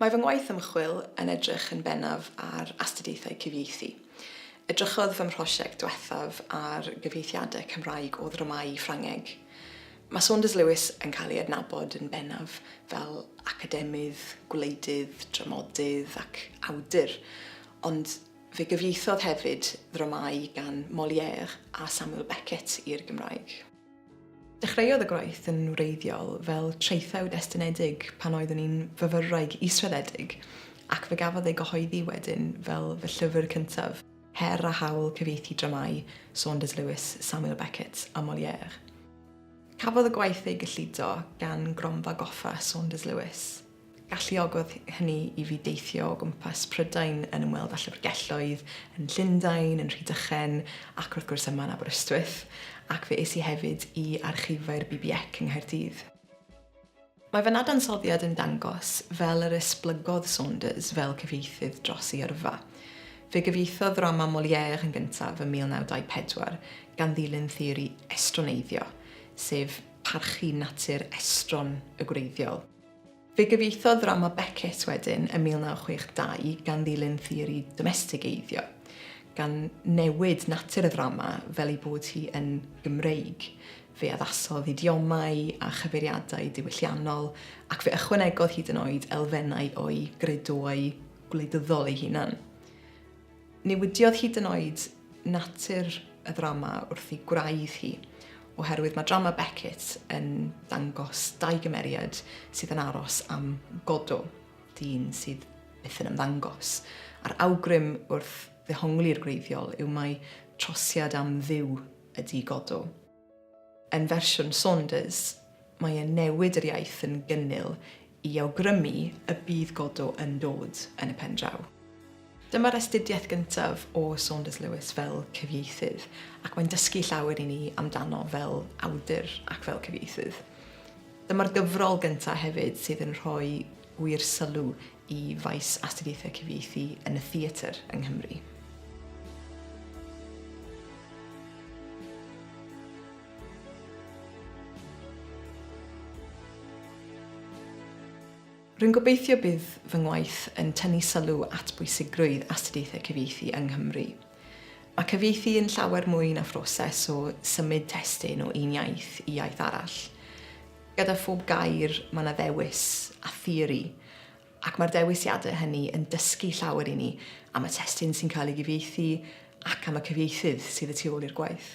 Mae fy ngwaith ymchwil yn edrych yn bennaf ar astudiaethau cyfieithu. Edrychodd fy mhrosiect diwethaf ar gyfieithiadau Cymraeg o ddramâu i Ffrangeg. Mae Saunders Lewis yn cael ei adnabod yn bennaf fel academydd, gwleidydd, dramodydd ac awdur, ond fe gyfieithodd hefyd ddramâu gan Molière a Samuel Beckett i'r Gymraeg. Dechreuodd y gwaith yn wreiddiol fel traethawd estynedig pan oeddwn i'n fyfyrwraig israddedig ac fe gafodd ei gyhoeddi wedyn fel fy llyfr cyntaf, Her a Hawl Cyfieithu Dramâu Saunders Lewis, Samuel Beckett a Molière. Cafodd y gwaith ei gyllido gan Gronfa Goffa Saunders Lewis. Galluogodd hynny i fi deithio o gwmpas Prydain yn ymweld â llyfrgelloedd yn Llundain, yn Rhydychen ac wrth gwrs yma yn Aberystwyth, ac fe es i hefyd i archifau'r BBEC yng Nghaerdydd. Mae fy nadansoddiad yn dangos fel yr esblygodd Saunders fel cyfieithydd dros ei yrfa. Fe gyfieithodd ddrama Molière yn gyntaf ym 1924 gan ddilyn theori estroneiddio, sef parchu natur estron y gwreiddiol. Fe gyfieithodd ddrama Beckett wedyn ym 1962 gan ddilyn theori domestigeiddio, gan newid natur y ddrama fel ei bod hi yn Gymreig. Fe addasodd idiomau a chyfeiriadau diwylliannol, ac fe ychwanegodd hyd yn oed elfennau o'i gredoau gwleidyddol ei hunan. Newidiodd hyd yn oed natur y ddrama wrth ei gwraidd hi, oherwydd mae drama Beckett yn dangos dau gymeriad sydd yn aros am Godot, dyn sydd byth yn ymddangos, a'r awgrym wrth ddehongli'r gwreiddiol yw mai trosiad am Dduw ydy Godot. Yn fersiwn Saunders, mae e'n newid yr iaith yn gynnil i awgrymu y bydd Godot yn dod yn y pen draw. Dyma'r astudiaeth gyntaf o Saunders Lewis fel cyfieithydd, ac mae'n dysgu llawer i ni amdano fel awdur ac fel cyfieithydd. Dyma'r gyfrol gyntaf hefyd sydd yn rhoi gwir sylw i faes astudiaethau cyfieithu yn y theatr yng Nghymru. Rwy'n gobeithio bydd fy ngwaith yn tynnu sylw at bwysigrwydd astudiaethau cyfieithu yng Nghymru. Mae cyfieithu yn llawer mwy na phroses o symud testun o un iaith i iaith arall. Gyda phob gair mae 'na ddewis a theori, ac mae'r dewisiadau hynny yn dysgu llawer i ni am y testun sy'n cael ei gyfieithu ac am y cyfieithydd sydd y tu ôl i'r gwaith.